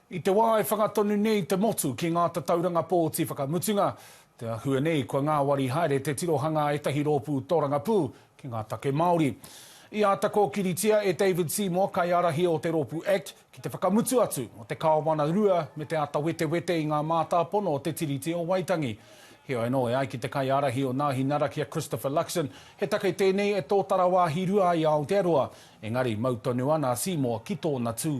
I te wā e whanga tonu nei te motu ki ngā tatauranga pōti whakamutunga, te āhua nei kua ngāwari haere te tirohanga a ētahi rōpū tōrangapū ki ngā take Māori. I āta kōkiritia e David Seymour, kaiārahi o te rōpū act, ki te whakamutu atu o te kāwana rua me te āta wetewete i ngā mātāpono o te Tiriti o Waitangi. Heoi anō, e ai ki te kaiārahi o Nāhinara ki a Christopher Luxon, he take tēnei e tōtara wāhi rua ai a Aotearoa, engari mau tonu ana a Seymour ki tōna tū.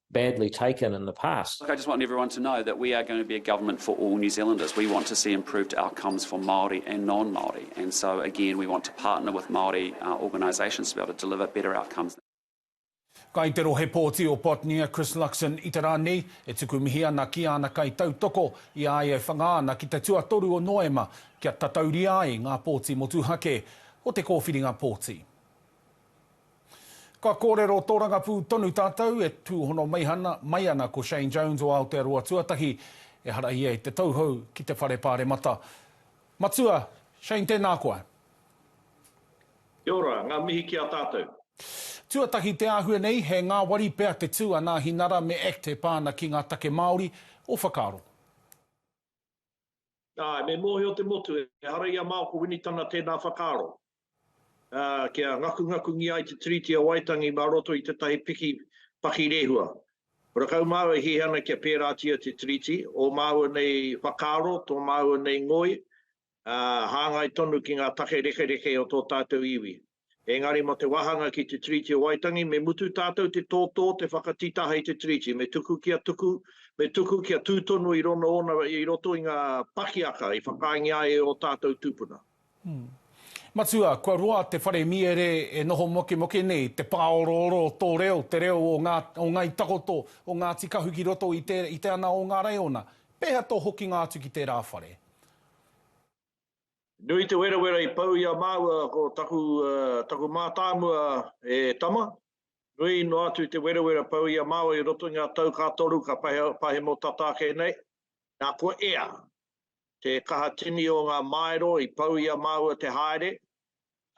badly taken in the past. Look, I just want everyone to know that we are going to be a government for all New Zealanders. We want to see improved outcomes for Māori and non-Māori. And so, again, we want to partner with Māori uh, organisations to be able to deliver better outcomes. Kai te rohe pōti o Botnia, Chris Luxon, i te rā nei, e tuku mihi ana ki āna kai tautoko i a ia e whanga ana ki te tuatoru o Noema kia tatauria ai ngā pōti motuhake o te kōwhiringa pōti. Ka kōrero tōrangapū tonu tātou e tūhono mai ana ko Shane Jones o Aotearoa Tuatahi, ehara ia i te tauhou ki te Whare Pāremata. Matua, Shane tēnā koa. Kia ora, ngā mihi ki a tātou. Tuatahi te āhua nei, he ngāwari pea te tū a Nāhi Nara me act e pā ana ki ngā take Māori, ō whakaaro? Āe, me mōhio te motu, ehara i a Maoko Winitana tēnā whakaaro, ā, kia ngakungakungia ai te Tiriti o Waitangi mā roto i tētahi piki pakirehua. Kua rakau māua e hiahia ana kia pērātia te Tiriti, ō māua nei whakaaro, tō māua nei ngoi, ā, hāngai tonu ki ngā take rekereke o tō tātou iwi. Engari mo te wahanga ki te Tiriti o Waitangi me mutu tatou te totō te whakatitaha i te Tiriti, me tuku kia tuku, me tuku kia tu tonu i rono ona i roto i nga pakiaka i whakaengia ai e o tatou tupuna. Matua, kua roa te whare miere e noho mokemoke nei, te pāorooro o tō reo, te reo o nga o Ngai Takoto, o Ngati Kahu ki roto i te i te ana o nga raiona. Peha to hokinga atu ki tera whare? Nui te werawera i pau i a māua ko taku, taku mātāmua e tama. Nui noa atu te werawera pau i a māua i roto i ngā tau ka toru, ka pahemo tata ake nei. Nā, ko ea, te kaha tini o ngā māero i pau i a māua te haere,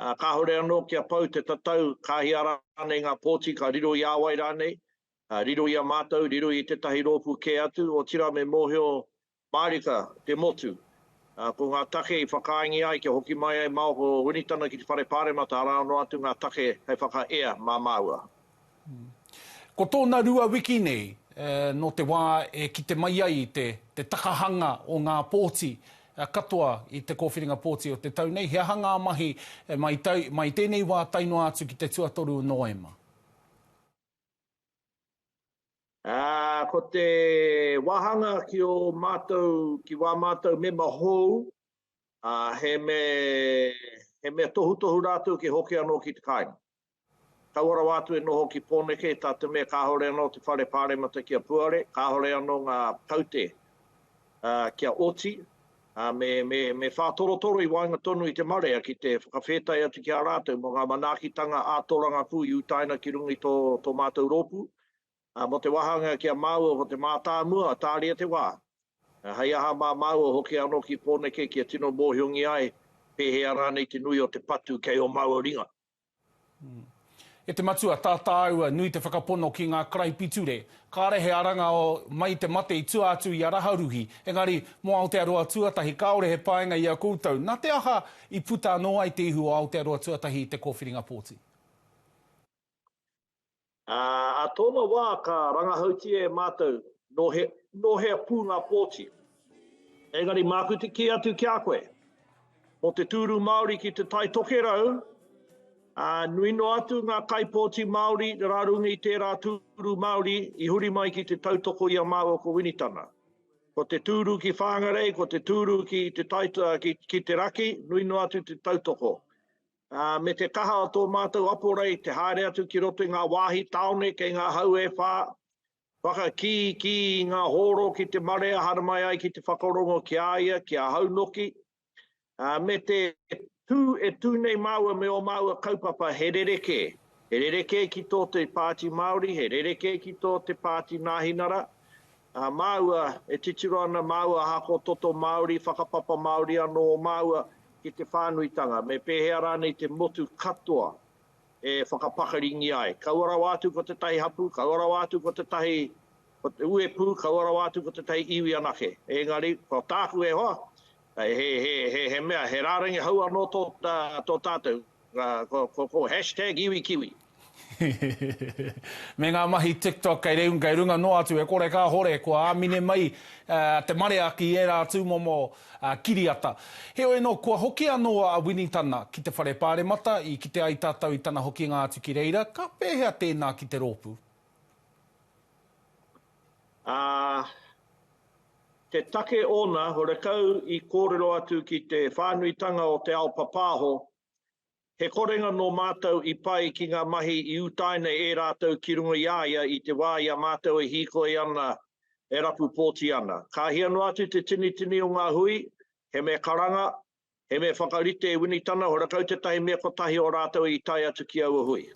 ā, kāore anō kia pau te tatau, ka hia rānei ngā pōti, ka riro i a wai rānei, riro i a mātou, riro i tētahi rōpū kē atu, otirā me mōhio Mārika, te motu. Ko ngā take i whakaaengia ai kia hoki mai ai Maoko Winitana ki te Whare Pāremata arā noa atu ngā take hei whakaea mā māua. Ko tōna rua wiki nei, nō te wā e kite mai ai i te te takahanga o ngā pōti katoa i te kōwhiringa pōti o te tau nei, he aha ngā mahi mai tai, mai tēnei wā tae noa atu ki te tuatoru o Nōema? Ā, ko te wāhanga ki ō mātou, ki wā mātou mema hou, ā, he mea, he mea tohutohu rātou kia hoki anō ki te kāinga. Kaua rawa atu e noho ki Pōneke, tā te mea kāore anō te whare pāremata kia puare, kāore anō ngā kaute kia oti, ā, me, me, me whātorotoro i waenga tonu i te marea ki te whakawhētai atu ki a rātou mō ngā manaakitanga ā-torangapū i utaina ki runga i tō, tō mātou rōpū, ā, mō te wāhanga ki a māua ko te mātāmua a Tāria te wā, ā, hei aha mā māua hoki anō ki Pōneke kia tino mōhiongia ai pēhea rānei te nui o te patu kei ō māua ringa. E te Matua, tā tāua nui te whakapono ki ngā karaipiture, kāre he aranga mai te mate i tua atu i a Raharuhi, engari, mō Aotearoa tuatahi, kāore he painga i a koutou, nā te aha i puta anō ai te ihu o Aotearoa tuatahi i te kōwhiringa pōti? Ā, ā tōna wā ka rangahautia e Mātou nō he, nō hea pū ngā pōti. Engari Māku te kī atu ki a koe, mō te tūru Māori ki Te Tai Tokerau, ā, nui noa atu ngā kaipōti Māori rā runga i tērā tūru Māori i huri mai ki te tautoko i a māua ko Winitana. Ko te tūru ki Whāngarei, ko te tūru ki Te Tai, ki, ki te raki, nui noa atu te tautoko. ā, me te kaha o tō mātou aporei te haere atu ki roto i ngā wāhi tāone kei ngā hau e whā, whakakīkī i ngā hōro ki te marea haramai ai ki te whakarongo ki a ia, ki ahau noki, ā, me te tū e tū nei māua me ō māua kaupapa he rerekē, he rerekē ki tō te Pāti Māori, he rerekē ki tō te Pāti Nāhinara, Ā māua e titiro ana māua hako toto Māori, whakapapa Māori anō o māua ki te whānuitanga, me pēhea rānei te motu katoa e whakapakaringia ai. Kaua rawa atu ko tētahi hapū, kaua rawa atu ko tētahi uepū, kaua rawa atu ko tētahi iwi anake. Engari, ko tāku e hoa, he mea, he rārangi hou anō tō tātou. Ko hashtag iwi kiwi. Me ngā mahi TikTok kei runga noa atu e kore kāhore kua āmine mai te marea ki ērā tūmomo kiriata. Heoi anō, kua hoki anō a Winnie Tana ki te Whare Pāremata i kite ai tātou i tana hokinga atu ki reira, ka pēhea tēnā ki te rōpū? Ā, te take ōna, horekau i kōrero atu ki te whānuitanga o te ao papāho, he korenga nō mātou i pai ki ngā mahi i utaina e rātou ki runga i a ia i te wā i a mātou e hīkoi ana, e rapu pōti ana. Kāhia noa atu te tinitini o ngā hui, he mea karanga, He mea whakarite e Winitana, hora kau tetahi mea kotahi o ratou i tae atu ki aua hui.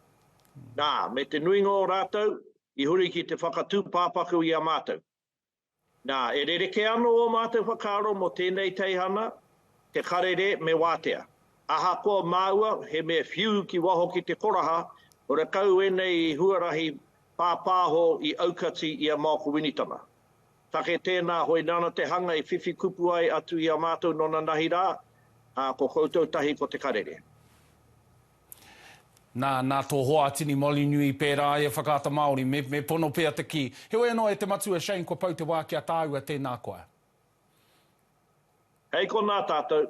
Na, me te nuinga o ratou, i huri ki te whakatu papaku i a matou. Na, e rereke ano o matou whakaaro mo tenei teihana, te karere me watea. Ahakoa maua he mea whiu ki waho ki te koraha, hora kau enei huarahi papaho i aukati i a Maoko Winitana. Take tēnā hoi nāna te hanga i whiwhi kupu ai atu i a mātou nona nahi rā, ā, ko koutou tahi ko Te Karere. Nā, nā tō hoa a Tini Molinui pērā ai e Whakaata Māori, me, me pono pea te kī. Heoi anō e te matua Shane kua pau te wā ki a tāua tēnā koa. Hei konā tātou,